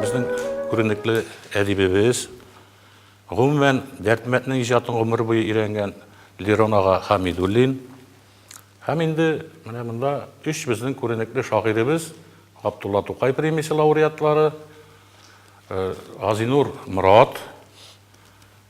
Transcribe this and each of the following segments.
Безнең күренекле әдибебез, гомумән, Дәрдмәтнең иҗатын гомер буе өйрәнгән Лерон ага Хәмидуллин. Һәм инде менә монда өч безнең күренекле шагыйребез, Габдулла Тукай премиясе лауреатлары, Газинур Морат,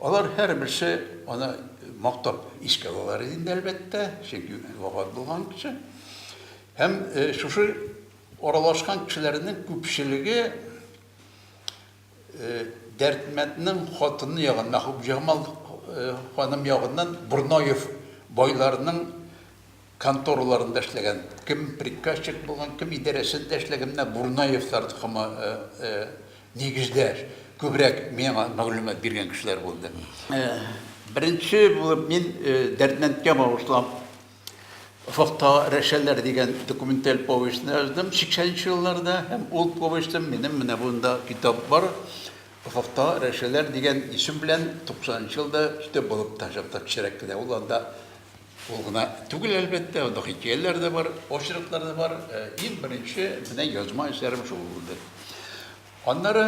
Алар һәрберсе аны мактап искә алалар иде инде, әлбәттә, чөнки вафат булган кеше. Һәм шушы аралашкан кешеләрнең күпчелеге Дәрдмәтнең хатыны ягын, Мәхүбҗамал ханым ягыннан Борнаев байларының контораларында эшләгән, кем приказчик булган, кем идарәсендә эшләгән, менә Бурнаевлар токымы нигездәш, күбрәк миңа мәгълүмат биргән кешеләр булды. Беренче булып мин Дәрдмәндкә багышлап Офыкта рәшәләр дигән документаль повестьны яздым, 80 нче елларда, һәм ул повестем минем менә монда китап бар, Офыкта рәшәләр дигән исем белән 90 нчы елда китап булып та чыкты, кечерәк кенә, ул анда. Ул гына түгел, әлбәттә, анда хикәяләр дә бар, очерклар да бар. Э, иң беренче менә язма әсәрем шул булды. Аннары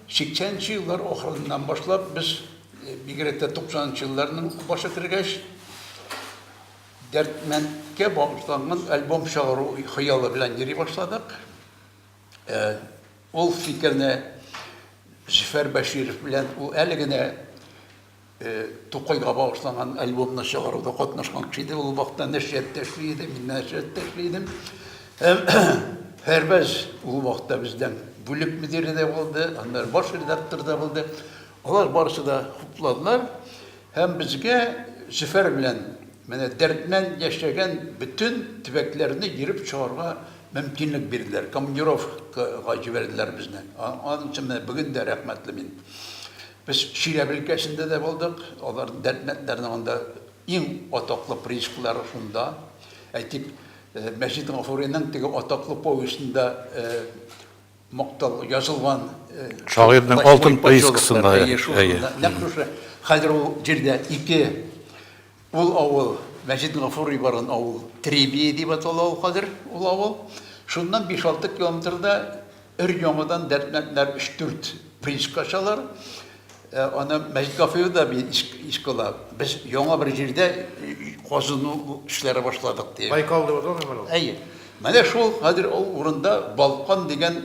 80 нче еллар ахырыннан башлап без э, бигрәк тә 90 нчы елларның башы кергәч дәртмәндкә багышланган альбом чыгару хыялы белән йөри башладык. Э, ул фикерне Зөфәр Бәширов белән ул әле генә Тукайга багышланган альбомны чыгаруда катнашкан кеше иде. Ул вакытта нәшрияттә эшли иде, мин нәшрияттә эшли идем. Һәм Фәрбәз ул вакытта бездән бүлек мөдире дә булды, аннары баш редактор да булды. Алар барысы да хупладылар һәм безгә Зөфәр белән менә дәрдмән яшәгән бөтен төбәкләрне йөреп чыгарга мөмкинлек бирделәр. Командировкага җибәрделәр безне. Аның өчен менә бүген дә рәхмәтле мин. Без Чиләбе өлкәсендә дә булдык. Алар дәртләнделәрне анда иң атаклы приискалары шунда. Әйтик, Мәҗит Гафуриның теге атаклы повестенда мактал язылган. Шагыйрьнең алтын приискасында, әйе. Нәкъ шушы. Хәзер ул җирдә ике. Ул авыл, Мәҗит Гафури барган авыл, Требие дип атала ул хәзер ул авыл. Шуннан биш-алты километрда өр-яңадан Дәрдмәндләр өч-дүрт прииска ачалар. Аны Мәҗит Гафури да бит искә ала. Без яңа бер җирдә казыну эшләре башладык, ди. Байкал дип атала микән ул? Әйе. Менә шул хәзер ул урында Балкан дигән.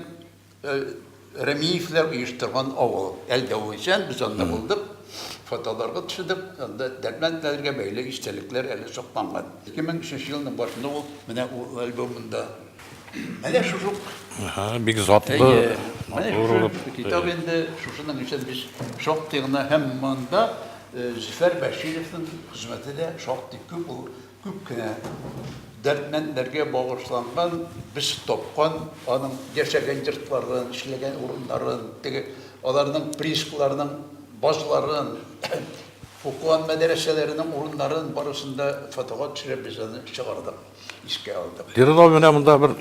Рәмиевләр оештырган авыл. Әлдә ул исән, без анда булдык. Фотоларга төшедек. Анда дәрмән дәлергә бәйле истәлекләр әле сакланган. 2003 елның башында ул менә ул альбомында. Менә шушы ук. Әһә, бик затлы. Әйе. Менә шушы китап инде. Шушының өчен без шактый гына һәм монда Зөфәр Бәшировның хезмәте дә шактый күп ул. Күп кенә дәрдмәндләргә багышланган, без тапкан аның яшәгән йортларын, эшләгән урыннарын, теге аларның приискаларының базларын, укыган мәдәрәсәләренең урыннарын барысын да фотога төшереп без аны чыгардык, искә алдык. Лиринов менә монда бер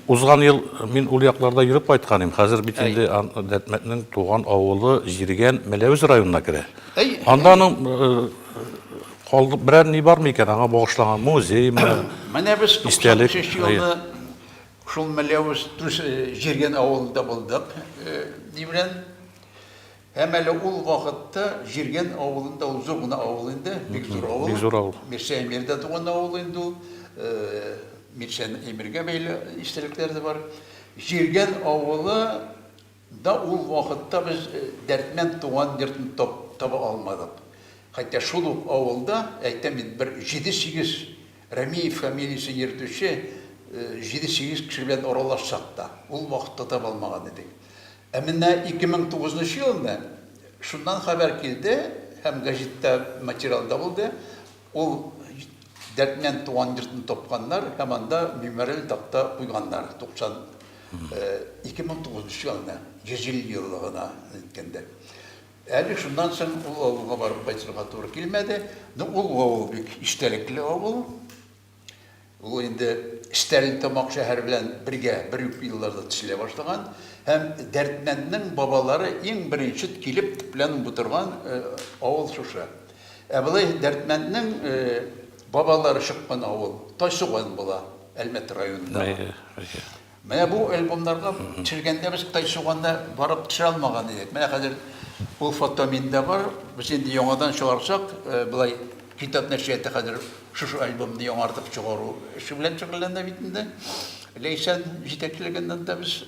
Узган ел мин ул якларда йөреп кайткан идем. Хәзер бит инде Дәтмәтнең туган авылы Җиргән, Мәләвез районына керә. Анда аның калдык берәр ни бармы икән, аңа багышлаган музеймы? Менә без 93 елны шул Мәләвез Җиргән авылында булдык. Ди белән Һәм әле ул вакытта Җиргән авылында, ул зур гына авыл инде, бик зур авыл. Бик зур авыл. Мирсәй Әмир дә туган авыл инде ул. Мирсәй Әмиргә бәйле истәлекләр дә бар. Җиргән авылы да ул вакытта без Дәрдмәнд туган йортын таба алмадык. Хәтта шул ук авылда, әйтәм бит, бер җиде-сигез Рәмиев фамилиясен йөртүче җиде-сигез кеше белән аралашсак та, ул вакытта таба алмаган идек. Ә менә 2009 нчы елны шуннан хәбәр килде һәм гәҗиттә материал да булды, ул Дәрдмәнд туган йортны тапканнар һәм анда мемориаль такта куйганнар, 90, 2009 нчы елны, 100 ел еллыгына әйткәндә. Әле шуннан соң ул авылга барып кайтырга туры килмәде. Ну, ул авыл бик истәлекле авыл. Ул инде Стәрлетамак шәһәре белән бергә бер үк елларда төзелә башлаган һәм Дәрдмәнднең бабалары иң беренче килеп төпләнеп утырган авыл шушы. Ә болай Дәрдмәнднең бабалары чыккан авыл Тайсуган була, Әлмәт районындагы. Менә бу альбомнарга төшергәндә без Кытай суганда барып төшерә алмаган идек. Менә хәзер ул фото миндә бар. Без инде яңадан чыгарсак, болай Китап нәшрияты хәзер шушы альбомны яңартып чыгару эше белән шөгыльләнә бит инде. Ләйсән җитәкчелегендә без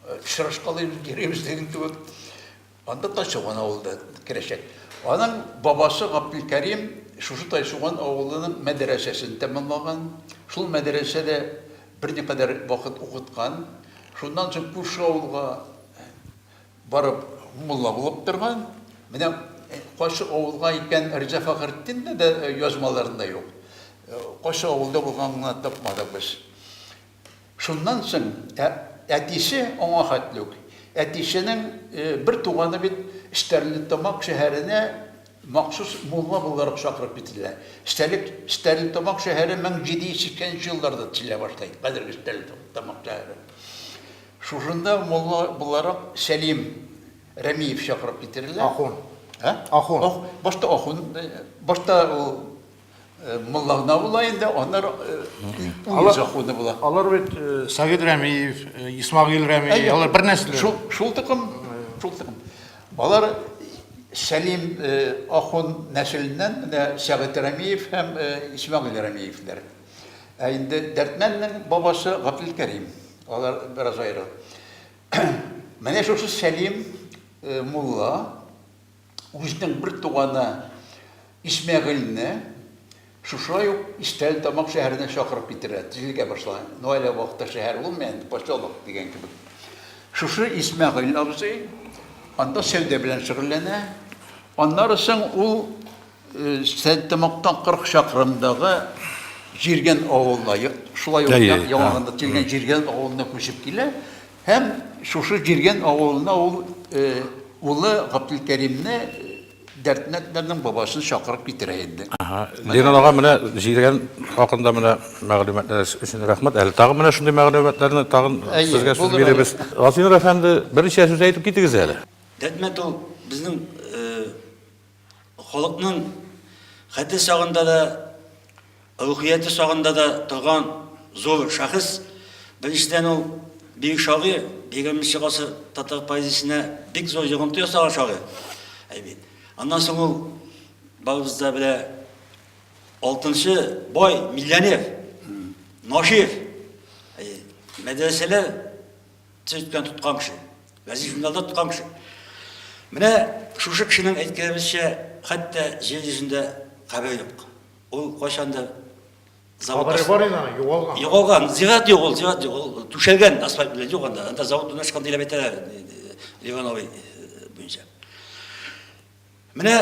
очрашкалыйбыз, йөрибез, диген кебек. Анда Тайшуган авылы да керәчәк. Аның бабасы Габделкәрим шушы Тайшуган авылының мәдрәсәсен тәмамлаган, шул мәдрәсәдә берникадәр вакыт укыткан, шуннан соң күрше авылга барып мулла булып торган. Менә кайсы авылга икән, Риза Фәхретдинны да язмаларында юк. Кайсы авылда булганын гына тапмадык без. Шуннан соң ә әтисе аңа хәтле үк, әтисенең бер туганы бит Стәрлетамак шәһәренә махсус мулла буларак чакырып китерелә. Стәлек Стәрлетамак шәһәре 1780 нче елларда төзелә башлый, хәзерге Стәрлетамак шәһәре. Шушында мулла буларак Сәлим Рәмиев чакырып китерелә. Ахун. Ә? Ахун. Башта ахун, башта ул. Э, Мулла гына була инде, аннары э, законы була. Алар бит э, Сәгид Рәмиев, Исмагил Рәмиев, алар бер нәсел. Шул шул тукым, шул тукым. Алар Сәлим ахун нәселеннән менә Сәгид Рәмиев һәм Исмагил Рәмиевләр. Ә инде Дәртмәннең бабасы Габдул Кәрим. Алар бераз аеры. Менә шушы Сәлим мулла үзенең бер туганы Исмәгыйльне шушай ук Истәлтамак шәһәренә чакырып китерә, тизлегә башла. Ну әле вакытта шәһәр булмый инде, поселок дигән кебек. Шушы Исмәгыйль абзый анда сәүдә белән шөгыльләнә. Аннары соң ул Истәлтамактан 40 чакрымдагы Җиргән авылына, шулай ук яңагында Тилгән Җиргән авылына күчеп килә. Һәм шушы Җирген авылына ул улы Гаптелкәримне Дәрдмәнднәрнең бабасын чакырып китерә инде. Ленин ага менә Җирген хакында менә мәгълүматларыгыз өчен рәхмәт. Әле тагын менә шундый мәгълүматларны тагын сезгә сүз бирәбез. Газинур әфәнде, берничә сүз әйтеп китегез әле. Дәрдмәнд ул безнең Халыкның хәте чагында да, рухияте чагында да торган зур шәхес. Беренчедән, ул бөек шагыйрь, егерменче гасыр татар поэзиясенә бик зур йогынты ясаган шагыйрь. Әйбит. Аннан соң ул барыбыз да белә алтынчы бай миллионер, Нашир. Мәдрәсәләр Цирктан тоткан кеше, гази журналда тоткан кеше. Менә шушы кешенең әйткәнебезчә, хәтта җир йөзендә кабер юк. Ул кайчан да Кабере бар иде аны, югалган. Югалган, зират юк ул, зират юк. Ул түшәлгән асфальт белән юк анда. Анда завод урнашкан дип әйтәләр, Ивановый буенча. Менә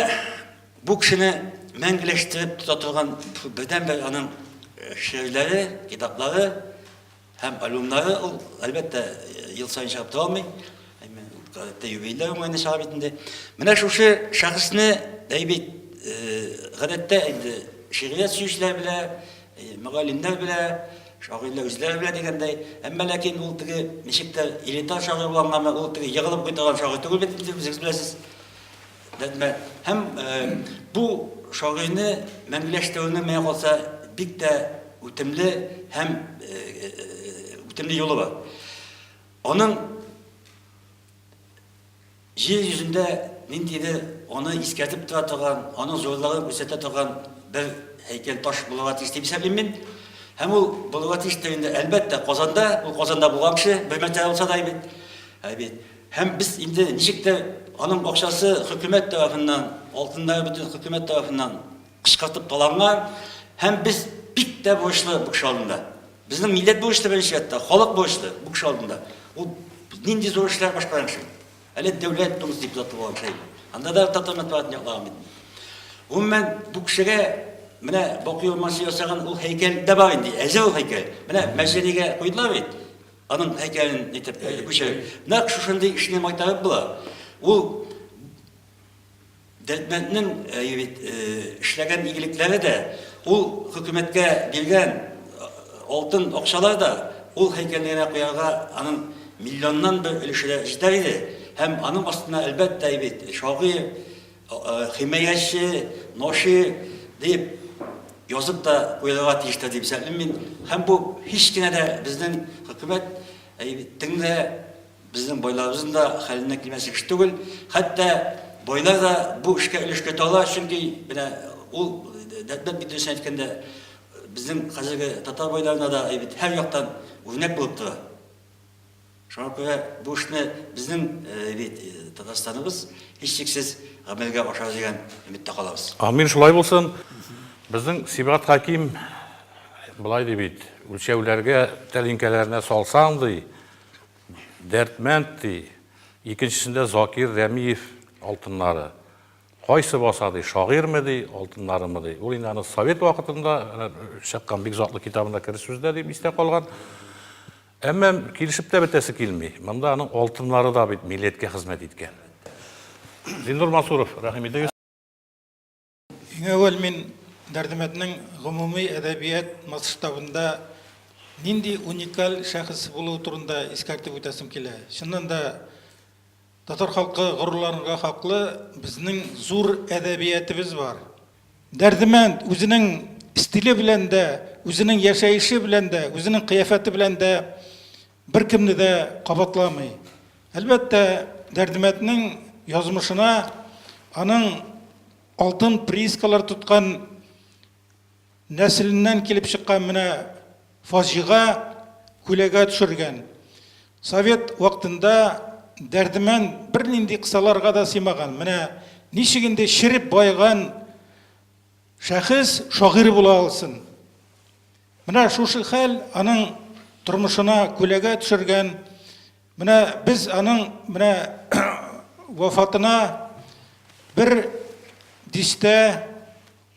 бу кешене мәңгеләштереп тота торган бердәнбер аның шигырьләре, китаплары Һәм альбомнары ул, әлбәттә, ел саен чыгып тора алмый. Гадәттә юбилейлар уңаенда чыга бит инде. Менә шушы шәхесне әйбит гадәттә инде шигърият сөючеләр белә, мөгаллимнәр белә, шагыйрьләр үзләре белә дигәндәй. Әмма ләкин ул теге ничектер элитар шагыйрь булгангамы, ул теге егылып куйдырган шагыйрь түгел бит инде, үзегез беләсез. Рәтмәт. Һәм бу шагыйрьне мәңгеләштерүнең менә калса бик тә үтемле һәм үтемле юлы бар. Аның җир йөзендә ниндидер аны искәртеп тора торган, аны зурлыгын күрсәтә торган бер һәйкәл таш булырга тиеш дип исәплим мин. Һәм ул булырга тиеш тә инде, әлбәттә, Казанда, ул Казанда булган кеше, бер мәртәбә булса да бит. Ә бит Һәм без инде ничек тә аның акчасы хөкүмәт тарафыннан, алтыннары бөтен хөкүмәт тарафыннан кычкыртып таланган. Һәм без бик тә бурычлы бу кеше алдында. Безнең милләт бурычлы беренче рәттә, халык бурычлы бу кеше алдында. Ул нинди зур эшләр башкарган кеше. Әле Дәүләт Думасы депутаты булган кеше. Анда да татар мәтбугатын яклаган бит. Гомумән, бу кешегә менә Бакый Урманче ясаган ул һәйкәл дә бар инде, әзер ул һәйкәл. Менә Мәҗәлигә куйдылар бит. Аның әйткәнен әйтеп күчерик. Нәкъ шушындый эшне майтарып була. Ул Дәтмәтнең эшләгән игелекләре дә, ул хөкүмәткә биргән алтын акчалар да ул һәйкәлне генә куярга аның миллионнан бер өлеше дә җитәр иде. Һәм аның астына, әлбәттә, әйбит, шагыйрь, Химаяче, ноши дип язып та куярга тиештер дип исәплим мин. Һәм бу һич кенә дә безнең хөкүмәт теңдә безнең байларыбызның да хәленә килмәс эш түгел. Хәтта байлар да бу эшкә өлеш керә ала, чөнки менә ул Дәтмәт бит дөресен әйткәндә безнең хәзерге татар байларына да һәр яктан үрнәк булып тора. Шуңа күрә бу эшне безнең бит Татарстаныбыз һичшиксез гамәлгә ашар дигән өметтә калабыз. Амин, шулай булсын. Безнең Сибгат Хәким болай ди бит, үлчәүләргә тәлинкәләренә салсаң, ди, Дәрдмәнд, ди, икенчесендә Закир Рәмиев алтыннары. Кайсы баса, ди, шагыйрьме, ди, алтыннарымы, ди. Ул инде аны совет вакытында чыккан бик затлы китабында кер сүздә дип истә калган. Әмма килешеп тә бетәсе килми. Монда аның алтыннары да бит милләткә хезмәт иткән. Зиннур Мансуров, рәхим итегез. Иң әүвәл мин Дәрдемәтнең гомуми әдәбият масштабында нинди уникаль шәхес булуы турында искәртеп үтәсем килә. Чыннан да, Татар халкы горурланырга хаклы, безнең зур әдәбиятебез бар. Дәрдемәнд үзенең стиле белән дә, үзенең яшәеше белән дә, үзенең кыяфәте белән дә беркемне дә кабатламый. Әлбәттә, Дәрдемәнднең язмышына аның алтын приискалар тоткан, нәселеннән килеп чыккан менә фаҗига күләгә төшергән. Совет вакытында Дәрдемән бернинди кысаларга да сыймаган. Менә ничек инде череп баеган шәхес шагыйрь була алсын? Менә шушы хәл аның тормышына күләгә төшергән. Менә без аның менә вафатына бер дистә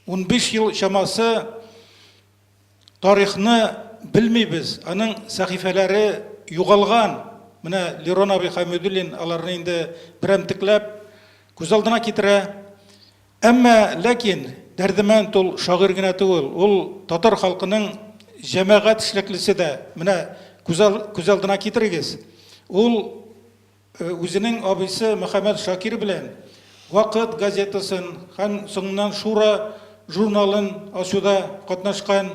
Унбиш ел чамасы тарихны белмибез, аның сәхифәләре югалган. Менә Лерон абый Хәмидуллин аларны инде берәмтекләп күз алдына китерә. Әмма, ләкин, Дәрдемәнд ул шагыйрь генә түгел, ул татар халкының җәмәгать эшлеклесе дә. Менә күз алдына китерегез, ул, Үзенең абыйсы Мөхәммәт Шакир белән Вакыт газетасын һәм соңыннан Шура журналын ачуда катнашкан.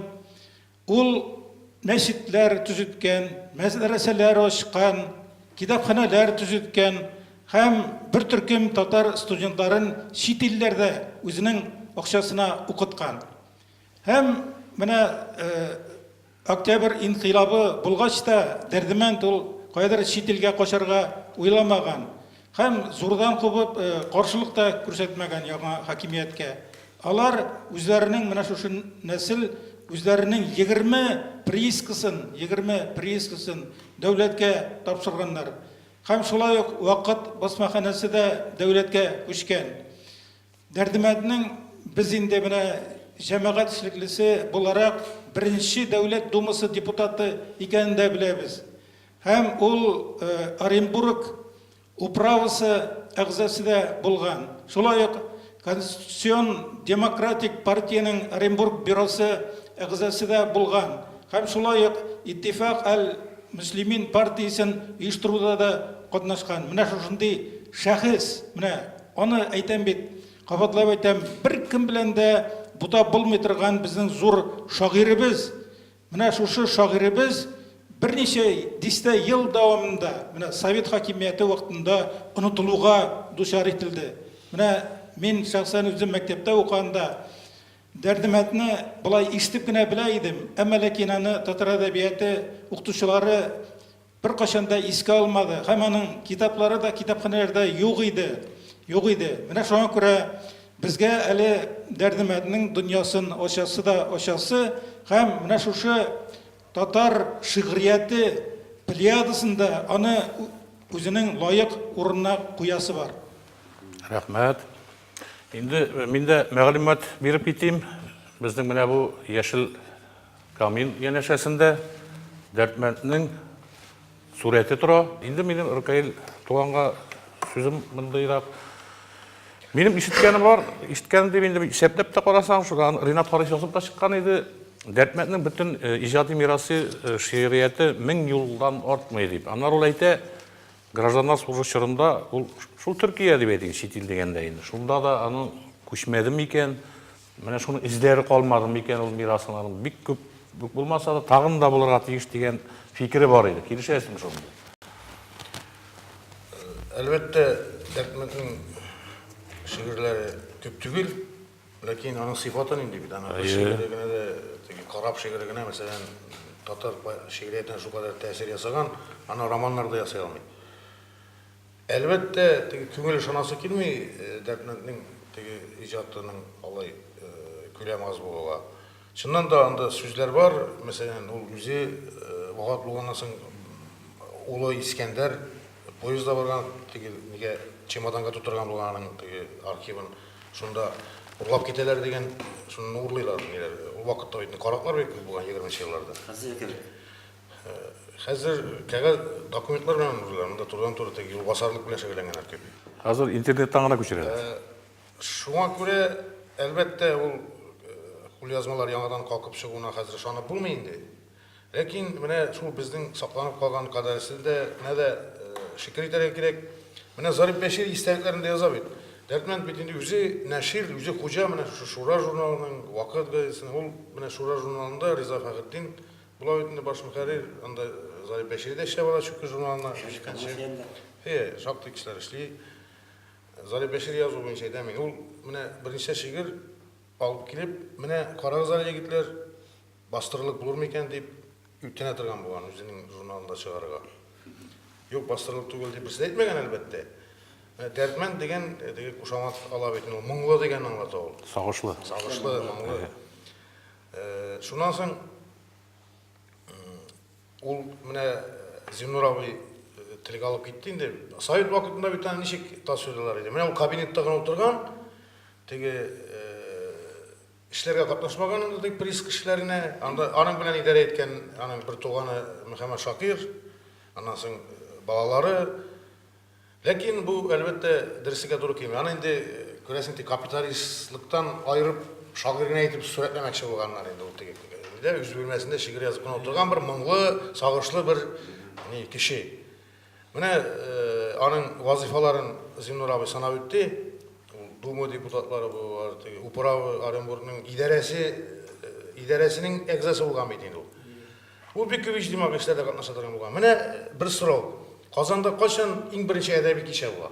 Ул мәчетләр төзеткән, мәдрәсәләр ачкан, китапханәләр төзеткән һәм бер төркем татар студентларын чит илләрдә үзенең акчасына укыткан. Һәм менә Октябрь инкыйлабы булгач та, Дәрдемәнд ул каядыр чит илгә качарга уйламаган һәм зурдан кубып, каршылык та күрсәтмәгән яңа хакимияткә. Алар үзләренең менә шушы нәсел үзләренең егерме приискасын, егерме приискасын дәүләткә тапшырганнар һәм шулай ук вакыт басмаханәсе дә дәүләткә күчкән. Дәрдемәнднең без инде менә җәмәгать эшлеклесе буларак беренче Дәүләт Думасы депутаты икәнен дә беләбез. Һәм ул Оренбург управасы әгъзасы да булган. Шулай ук Конституцион демократик партиянең Оренбург бюросы әгъзасы да булган һәм шулай ук Иттифак әл-Мөслимин партиясен оештыруда да катнашкан. Менә шушындый шәхес, менә Аны әйтәм бит, кабатлап әйтәм, беркем белән дә бутап булмый торган безнең зур шагыйребез. Менә шушы шагыйребез берничә дистә ел дәвамында, менә совет хакимияте вакытында онытылуга дучар ителде. Менә мин шәхсән үзем мәктәптә укыганда Дәрдемәтне болай ишетеп кенә белә идем, әмма ләкин аны татар әдәбияты укытучылары Беркайчан да искә алмады һәм аның китаплары да китапханәләрдә юк иде. Юк иде. Менә шуңа күрә безгә әле Дәрдемәднең дөньясын ачасы да ачасы һәм менә шушы татар шигърияте плеядасында аны үзенең лаек урынына куясы бар. Рәхмәт. Инде мин дә мәгълүмат биреп китим. Безнең менә бу яшел Камил янәшәсендә Дәрдмәнднең сурәте тора. Инде минем Ркаил туганга сүзем мондыйрак. Минем ишеткәнем бар, ишеткәнем дип инде исәпләп тә карасаң, шудан Ринат Харис язып та чыккан иде. Дәрдмәнднең бөтен э, иҗади мирасы, э, шигърияте мең юлдан артмый дип. Аннары ул әйтә, гражданнар сугышы чорында ул шул Төркия дип әйтик, чит ил дигәндә инде. Шунда да аның күчмәдем икән, Менә шуның эзләре калмады микән ул мирасының бик күп күп булмаса да тагын да булырга тиеш дигән фикере бар иде. Килешәсезме шуның? Әлбәттә, Әхмәтнең шигырьләре күп түгел, ләкин аның сыйфаты нинди бит, ана шигыре генә дә, теге карап шигыре генә, мәсәлән, татар шигъриятенә шул кадәр тәэсир ясаган, аны романнарда ясый алмый. Әлбәттә, теге күңел ышанасы килми Дәрдмәнднең теге иҗатының алай күләме аз булуга. Чыннан да, анда сүзләр бар, мәсәлән, ул үзе вафат булганнан соң улы Искәндәр поездда барган, теге нигә чемоданга тутырган булган аның теге архивын, шунда урлап китәләр дигән, шуннан урлыйлар ниләр. Ул вакытта бит караклар бик күп булган, егерменче елларда. Хәзерге кебек. Хәзер кәгазь документлар белән узалар, монда турыдан-туры теге юлбасарлык белән шөгыльләнгәннәр кебек. Хәзер интернеттан гына күчерәләр. Шуңа күрә, әлбәттә, ул кулъязмалар яңадан калкып чыгуына хәзер ышанып булмый инде. Ләкин менә шул безнең сакланып калган кадәресенә дә шөкер итәргә кирәк. Менә Зариф Бәшир истәлекләрендә яза бит, Дәрдмәнд бит инде үзе нәшир, үзе хуҗа менә шушы Шура журналының, Вакыт газетасының. Ул менә Шура журналында Риза Фәхретдин Була бит инде баш мөхәррир, анда Зариф Бәшири дә эшләп ала Чүкеч журналына, икенче. Әйе, шактый кешеләр эшли. Зариф Бәшири язуы буенча әйтәм мин. Ул менә берничә шигырь алып килеп, менә карагыз әле, егетләр, бастырырлык булыр микән дип үтенә торган булган, үзенең журналында чыгарырга. Юк, бастырырлык түгел дип берсе дә әйтмәгән, әлбәттә. Менә Дәрдмәнд дигән теге кушамат ала бит инде, ул моңлы дигәнне аңлата ул. Сагышлы. Сагышлы, моңлы. Шуннан соң ул менә Зиннур абый телгә алып китте инде. Совет вакытында бит аны ничек тасвирлыйлар иде. Менә ул кабинетта гына утырган, теге эшләргә катнашмаган ул дип приск эшләренә, анда аның белән идарә иткән аның бер туганы Мөхәммәт Шакир, аннан соң балалары, Ләкин бу, әлбәттә, дөреслеккә туры килми. Аны инде, күрәсең, тик капиталистлыктан аерып, шагыйрь генә итеп сурәтләмәкче булганнар инде ул теге дә үз бүлмәсендә шигырь язып кына утырган бер моңлы, сагышлы бер ни кеше. Менә аның вазыйфаларын Зиннур абый санап үтте. Дума депутатлары булалар, теге управа Оренбургның идарәсе идарәсенең әгъзасы булган бит инде ул. Ул бик күп иҗтимагый эшләрдә катнаша торган булган. Менә бер сорау. Казанда кайчан иң беренче әдәби кичә була?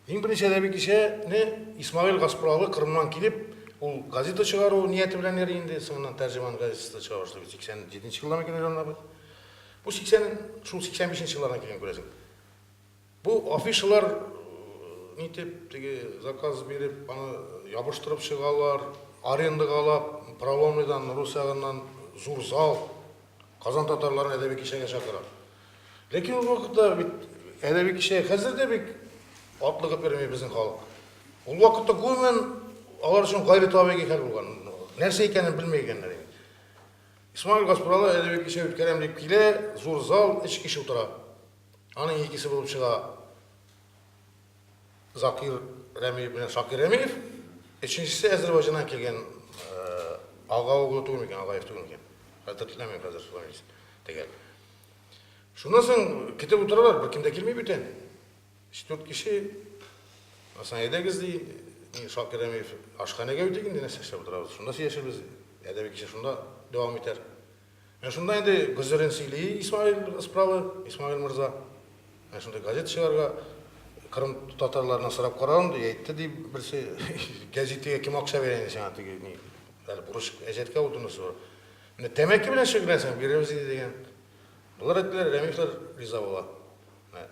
Иң беренче әдәби кичәне Исмагыйль Гаспуралы Кырымнан килеп, ул газета чыгару нияте белән йөри инде, соңыннан тәрҗеман газетасы чыгара башлый. 87 нче еллардан килгән җаннар бит. Бу 80 шул 85 нче еллардан килгән күрәсең. Бу афишалар нитеп теге заказ биреп аны ябыштырып чыгалар, арендага алап Проломныйдан, рус ягыннан зур зал, Казан татарларын әдәби кичәгә чакыра. Ләкин ул вакытта бит әдәби кичә хәзер дә бик атлыгып йөрми безнең халык. Ул вакытта гомумән алар өчен гайретабигый хәл булган, нәрсә икәнен белми икәннәр инде. Исмагыйль Гаспралы әдәби кичә үткәрәм дип килә, зур зал, өч кеше утыра. Аның икесе булып чыга Закир Рәмиев белән Шакир Рәмиев. Өченчесе Әзербайҗаннан килгән Ага углы түгел микән, Агаев түгел микән? Хәтерләмим хәзер фамилиясен. Тегәл. Шуннан соң китеп утыралар, беркем дә килми бүтән. Өч-дүрт кеше Асан әйдәгез ди, мин Шакир Рәмиев ашханәгә үтик инде, нәрсә эшләп утырабыз. Шунда сөйләшербез. Әдәби кичә шунда дәвам итәр. Менә шунда инде гозерен сөйли Исмәгыйль Ыспралы, Исмәгыйль морза. Менә шундый газета чыгарырга кырым татарларыннан сорап карадым, ди, әйтте, ди, берсе, Гәзитегә кем акча бирә инде сиңа, теге, ни, әле бурыч әҗәткә ул донос бар. Менә тәмәке белән шөгыльләнсәң, бирербез иде, дигән. Болар әйттеләр, Рәмиевләр риза була.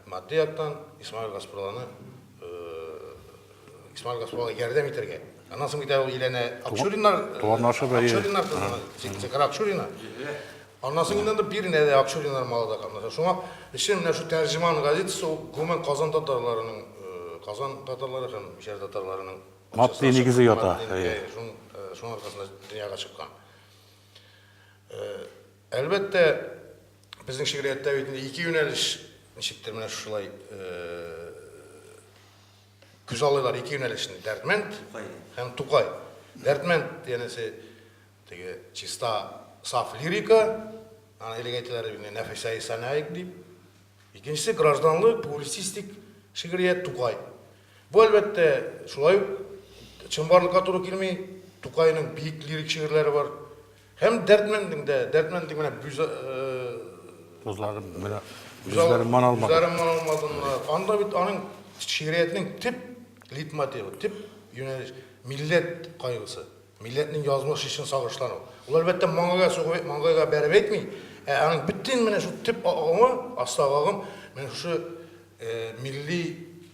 Матди яктан Исмаил Гаспруланы, Исмаил Гаспрулага ярдәм итәргә. Аннан соң бит ул Елена Акчуриннар, туганнары бар. Акчуриннар кызына, Зекара Акчурина. Аннан соң инде биренә дә Акчуриннар малы да катнаша. Шуңа өчен менә шу тәрҗеман газетасы ул гомумән Казан татарларының, Казан татарлары һәм Җәр татарларының матди нигезе ята. Шуның аркасында дөньяга чыккан. Әлбәттә, безнең шигърияттә бит инде ике юнәлеш, ничектер менә шулай күзаллыйлар ике юнәлешне, Дәрдмәнд һәм Тукай. Дәрдмәнд янәсе теге чиста, саф лирика, аны элек әйтәләр иде, Нәфисәи Санаик дип. Икенчесе гражданлы, публицистик шигърият Тукай. Бу, әлбәттә, шулай ук чынбарлыкка туры килми, Тукайның биек лирик шигырьләре бар. Һәм дәрдмәндең дә, дәрдмәндең менә бүз Үзләре менә үзләре ман алмады. Үзләре ман алмадылар. Анда бит аның шигъриятнең төп литмотивы, төп юнәлеш милләт кайгысы. Милләтнең язмыш өчен сагышлану. Ул әлбәттә маңгайга сугып, маңгайга бәреп әйтми, ә аның бөтен менә шу төп агымы, астагы агым менә шушы милли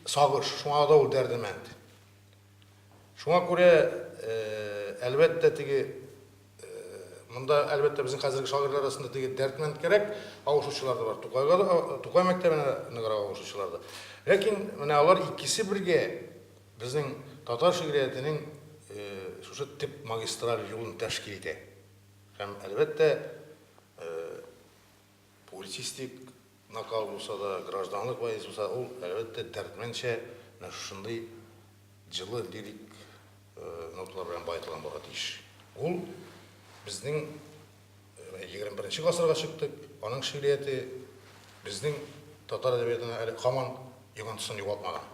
сагыш. Шуңа да ул дәрдемәнд. Шуңа күрә, әлбәттә, теге, монда, әлбәттә, безнең хәзерге шагыйрьләр арасында теге Дәрдмәнд кәрәк авышучылар да бар, Тукайга да, Тукай мәктәбенә ныграк авышучылар да. Ләкин менә алар икесе бергә безнең татар шигъриятенең шушы төп магистраль юлын тәшкил итә. Һәм, әлбәттә, Публицистик накал булса да, гражданлык вальс булса, ул, әлбәттә, дәрдмәнчә менә шушындый җылы лирик ноталар белән баетылган булырга тиеш. Ул безнең егерме беренче гасырга чыктык, аның шигърияте безнең татар әдәбиятына әле һаман йогынтысын югалтмаган.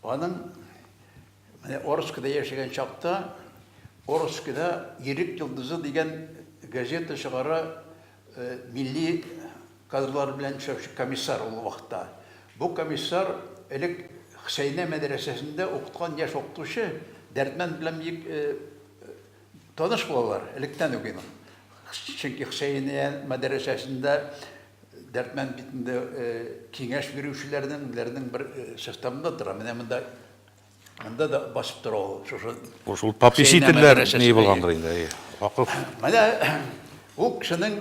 Аның Менә Орскида яшәгән чакта Орскида Ирек йолдызы дигән газета чыгара милли кадрлар белән эшләүче комиссар ул вакытта. Бу комиссар элек Хсәйнә мәдрәсәсендә укыткан яшь укытучы Дәрдмәнд белән бик таныш булалар электән үк инде. Чөнки Хсәйнә мәдрәсәсендә Дәрдмәнд бит инде киңәш бирүчеләрнең үзләренең бер составында тора. Менә монда Анда да басып тора ул шушы. Шул пописи телләр ни булгандыр инде, әйе. Вакыф. Менә ул кешенең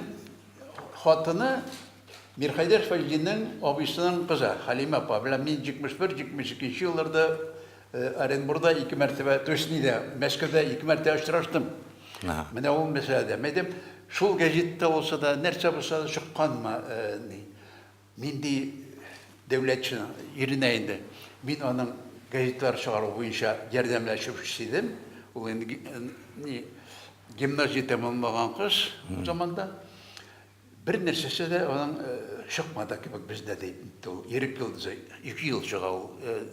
хатыны Мирхәйдәр Фәҗдинең абыйсының кызы Халимә апа белән мин 71-72 елларда э, Оренбурда ике мәртәбә, то есть нидә, Мәскәүдә ике мәртәбә очраштым. Менә ул мәсьәләдә. Мәдәм шул гәҗиттә булса да, нәрсә булса да чыкканмы э, ни. Нинди дәүләтченың иренә инде. Мин аның газеталар чыгару буенча ярдәмләшүчесе идем. Ул инде ни гимназия тәмамлаган кыз ул заманда. Бер нәрсәсе дә аның чыкмады кебек бездә ди ул. Ирек йолдызы ике ел чыга ул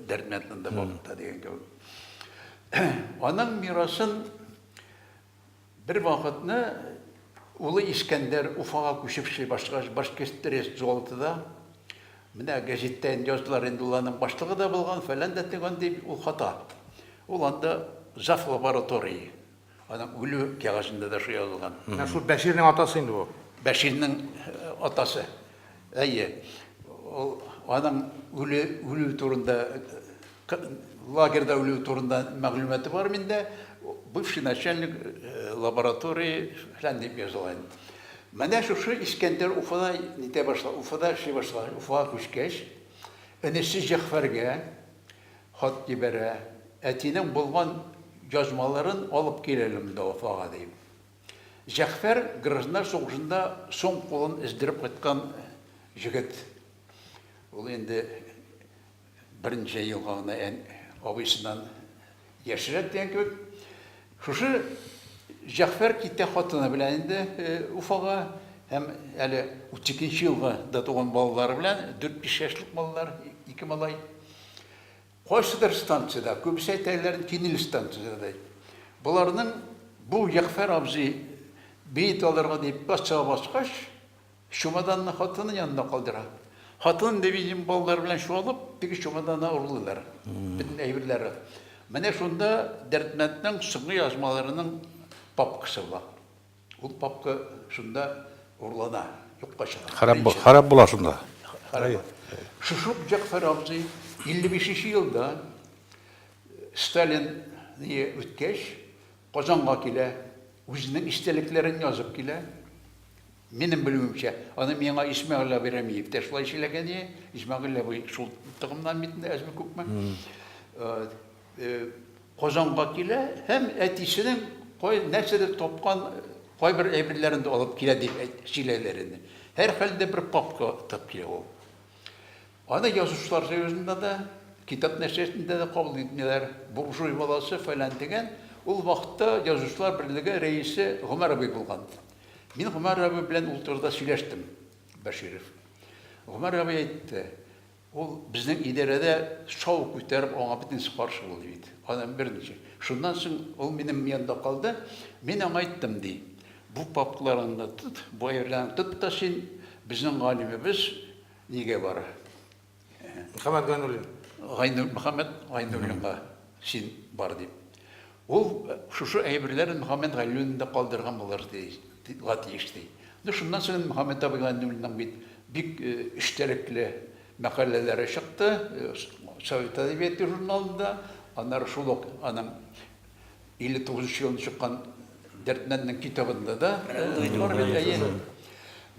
Дәрдмәнднең дә вакытта дигән кебек. Аның мирасын Бервакытны улы Искәндәр Уфага күчеп эшли башлагач, Башкирттрест золотыда, менә гәҗиттә инде яздылар, инде ул аның башлыгы да булган, фәлән дә төгән дип ул хата. Ул анда зав. Лаборатории. Аның үлү кәгазендә дә шул язылган. Менә шул Бәширнең атасы инде бу. Бәширнең атасы. Әйе. Ул аның үлү, үлү турында К лагерьда үлүе турында мәгълүматы бар миндә. Бывший начальник э, лаборатории фәлән дип языла инде. Менә шушы Искәндәр Уфада нитә башла, Уфада эшли башла. Уфага күчкәч, энесе Җәгъфәргә хат җибәрә. Әтинең булган язмаларын алып кил әле монда Уфага дип. Җәгъфәр гражданнар сугышында соң кулын эздереп кайткан җегет. Ул инде Берничә елга гына ән абыйсыннан яшьрәк дигән кебек. Шушы Җәгъфәр китә хатыны белән инде Уфага һәм әле 32 нче елга да туган балалары белән, 4-5 яшьлек маллар, ике малай. Кайсыдыр станциядә, күбесе әйтәләр, Кинел станциядә ди. Боларның бу Җәгъфәр абзый бит алырга дип бассага баскач, Чемоданны хатыны янында калдыра. Хатынын невидимый балалары белән чуалып, теге чемоданны урлыйлар. Бөтен әйберләре. Менә шунда Дәрдмәнднең соңгы язмаларының папкасы була. Ул папка шунда урлана, юкка чыга. Харап, харап була шунда. Харап. Шушы ук Җәгъфәр абзый 55 нче елда Сталин не үткәч, Казанга килә, үзенең истәлекләрен язып килә. Минем белүемчә, аны миңа Исмәгыйль абый Рәмиев тә шулай сөйләгән иде. Исмәгыйль абый шул тыгымнан бит инде әзме-күпме. Казанга килә һәм әтисенең кай нәрсәдә тапкан кайбер әйберләрен дә алып килә дип сөйләләр иде. Һәрхәлдә бер папка тап килә ул. Аны язучылар союзында да, китап нәшриятында да кабул итмиләр. Буржуй баласы фәлән дигән. Ул вакытта язучылар берлеге рәисе Гомәр абый булган. Мин Гомәр абый белән ул турыда сөйләштем, Бәширов. Гомәр абый әйтте, ул безнең идарәдә шау күтәреп, аңа бөтенесе каршы булды бит. Адан берничә. Шуннан соң ул минем янда калды. Мин аңа әйттем, ди, бу папкаларыңны тот, бу әйберләреңне тот та син, безнең галимебез нигә бара? Мөхәммәт Гайнуллин. Гайну, Мөхәммәт Гайнуллинга син бар дип. Ул шушы әйберләрен Мөхәммәт Гайнуллин да калдырган булыр ди, га тиеш ди. Ну, шуннан соң инде Мөхәммәт абый Гайнуллинның бит бик эчтәлекле мәкаләләре чыкты Совет әдәбияты журналында, аннары шул ук аның 59 нчы елында чыккан Дәрдмәнднең китабында да бар бит, әйе.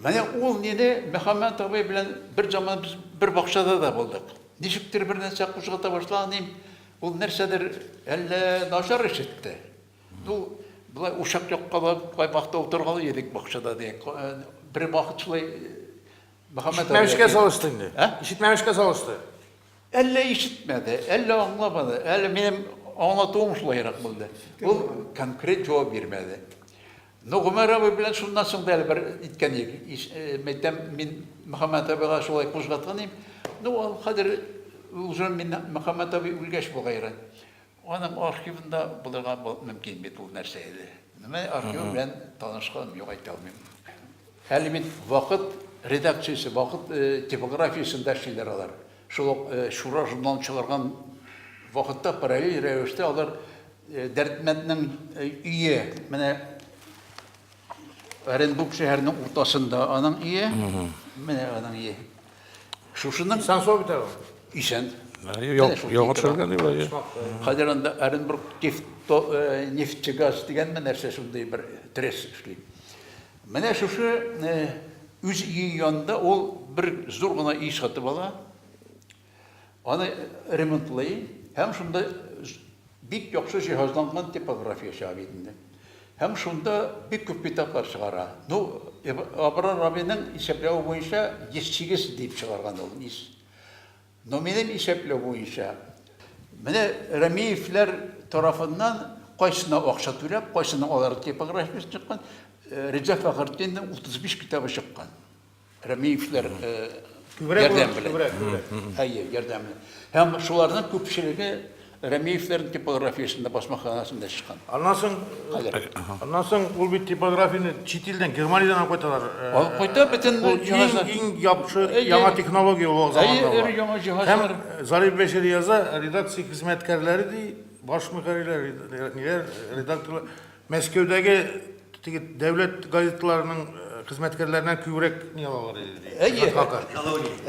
Менә ул нине Мөхәммәт абый белән бер заман без бер бакчада да булдык. Ничектер бер нәрсә кузгата башлаганым, ул нәрсәдер әллә начар ишетте. Ну, болай учак яккалап, каймакта утыргалы идек бакчада ди. Бер вакыт шулай Мөхәммәт абый. Ишетмәмешкә салышты инде. Ә? Ишетмәмешкә салышты. Әллә ишетмәде, әллә аңламады, әллә минем аңлатуым шулайрак булды. Ул конкрет җавап бирмәде. Ну, Гомәр абый белән шуннан соң да әле бер иткән идек. Э, мәйтәм, мин Мөхәммәт абыйга шулай кузгаткан идем. Ну, хәзер уже мин Мөхәммәт абый үлгәч булгайры. Аның архивында булырга мөмкин бит ул нәрсә иде. Менә архивы белән танышканым юк, әйтә алмыйм. Әле бит Вакыт редакциясе, Вакыт типографиясендә эшлиләр алар. Шул ук Шура журналын чыгарган вакытта параллель рәвештә алар Дәрдмәнднең өе, менә Оренбург шәһәренең уртасында аның өе, менә аның өе. Шушының Исән сау бит әле. Исән. Яңа төшергән дип әйе. Хәзер анда Оренбург э, нефтегаз дигәнме нәрсә шундый бер трес эшли. Менә шушы э, үз өе янында ул бер зур гына өй сатып ала. Аны ремонтлый һәм шунда бик яхшы җиһазланган типография чыга бит инде. Һәм шунда бик күп китаплар чыгара. Ну, Абрар абыйның исәпләве буенча 108 дип чыгарган ул ис. Но минем исәпләү буенча, менә Рәмиевләр тарафыннан кайсына акча түләп, кайсына алар типографиясе чыккан, Риза Фәхретдинның 35 китабы чыккан. Рәмиевләр ярдәме. Әйе, ярдәме. Һәм шуларның күпчелеге Рәмиевләрнең типографиясендә, басмаханасында чыккан. Аннан соң, аннан соң ул бит типографияне чит илдән, Германиядән алып кайталар. Алып кайта бөтен җиһазлар. Иң яхшы, яңа технология ул заманда. Әйе, яңа җиһазлар. Һәм Зариф Бәшир яза, редакция хезмәткәрләре ди, баш мөхәррирләр, ниләр, редакторлар. Мәскәүдәге теге дәүләт газетларының э, хезмәткәрләреннән күбрәк ни алалар иде ди. Әйе. Хакы.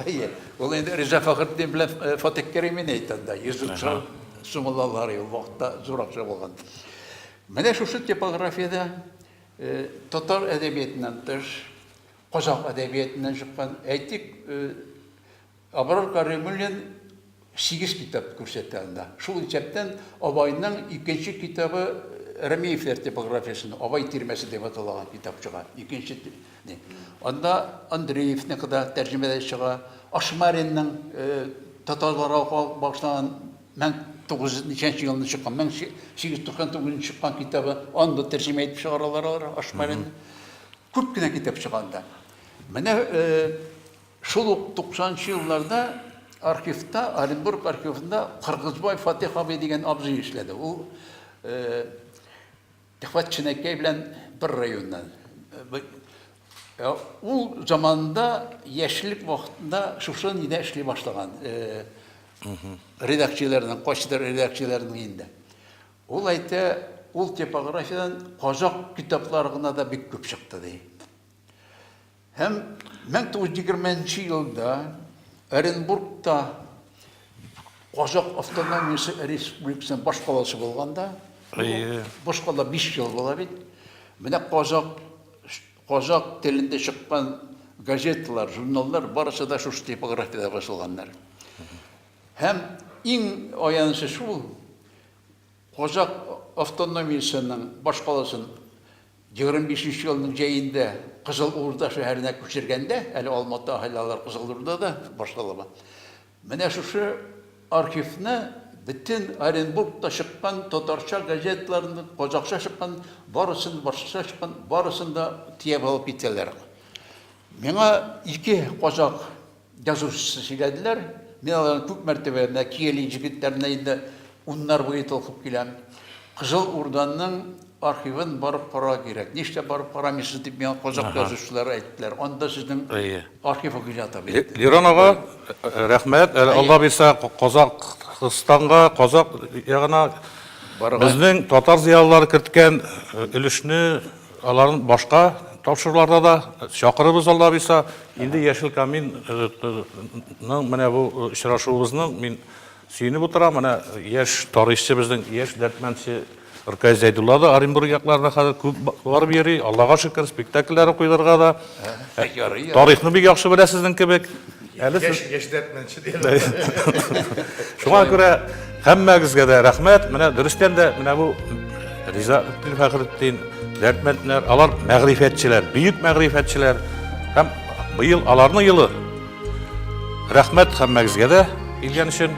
Әйе. Ул инде Риза Фәхретдин белән э, Фатих Кәримин әйтә анда. Йөз сум сум алалар ул вакытта зур акча булган. Менә шушы типографиядә э, татар әдәбиятыннан тыш, казак әдәбиятыннан чыккан, әйтик, э, Абрар Кәримуллин сигез китап күрсәтә анда. Шул исәптән Абайның икенче китабы Рәмиевләр типографиясеннән Абай тирмәсе дип аталаган китап чыга. Икенче ни. Анда Андреевныкы да тәрҗемәдә чыга. Ашмаринның татарларга багышланган мең тугыз йөз ничәнче елында чыккан, мең сигез йөз туксан тугызынчы чыккан китабы, аны да тәрҗемә итеп чыгаралар алар Ашмаринны. Күп кенә китап чыга анда. Менә Шул ук туксанынчы елларда архивта, Оренбург архивында Кыргызбай Фатих абый дигән абзый эшләде. Ул Ихват Ченәкәй белән бер районнан. Ул заманда яшьлек вакытында шушы нидә эшли башлаган. Редакцияләрнең, кайсыдыр редакцияләрнең инде. Ул әйтә, ул типографиядән казак китаплары гына да бик күп чыкты, ди. Һәм 1920 нче елда Оренбургта Казак автономиясе республикасының башкаласы булганда, башкала 5 ел була бит. Менә казак казак телендә чыккан газеталар, журналлар барысы да шушы типографиядә басылганнар. Һәм иң аянычы шул, Казакъ автономиясенең башкаласын егерме бишенче елның җәендә Кызыл Урда шәһәренә күчергәндә, әле Алматы аһәле алар Кызыл Урдада башталыба, менә шушы архивны бөтен Оренбургта чыккан татарча газеталарны, казакъча чыккан барысын, башкача чыккан барысын да төяп алып китәләр. Миңа ике казакъ. Язучысы сөйләделәр. Мин аларны күп мәртәбә менә Киәли җегетләренә инде уннар буе толкып киләм. Кызыл Урданың архивын барып карарга кирәк. Нишләп барып карамыйсыз, дип миңа казакъ язучылары әйттеләр. Анда сезнең архивыгыз ята бит, диде. Лирон ага, рәхмәт. Әле Алла бирсә, Казакъстанга, казакъ ягына безнең татар зыялылары керткән өлешне, Аларны башка тапшыруларда да чакырыбыз алла бирса. Инде Яшел камин ның менә бу очрашуыбызның мин сөенеп утырам. Менә яшь тарихчы безнең яшь дәртмәнче Ркай Зәйдулла да Оренбург якларына хәзер күп барып йөри. Аллага шөкер, спектакльләре куйларга да. Тарихны бик яхшы белә сезнең кебек. Әле яшь, сез... яшь дәртмәнче Шуңа күрә һәммәгезгә дә рәхмәт. Менә дөрестән дә менә бу Риза Үттин Фәхретдин, дәртмәндләр, алар мәгърифәтчеләр, бөек мәгърифәтчеләр һәм быел аларны елы. Рәхмәт һәммәгезгә дә килгән өчен.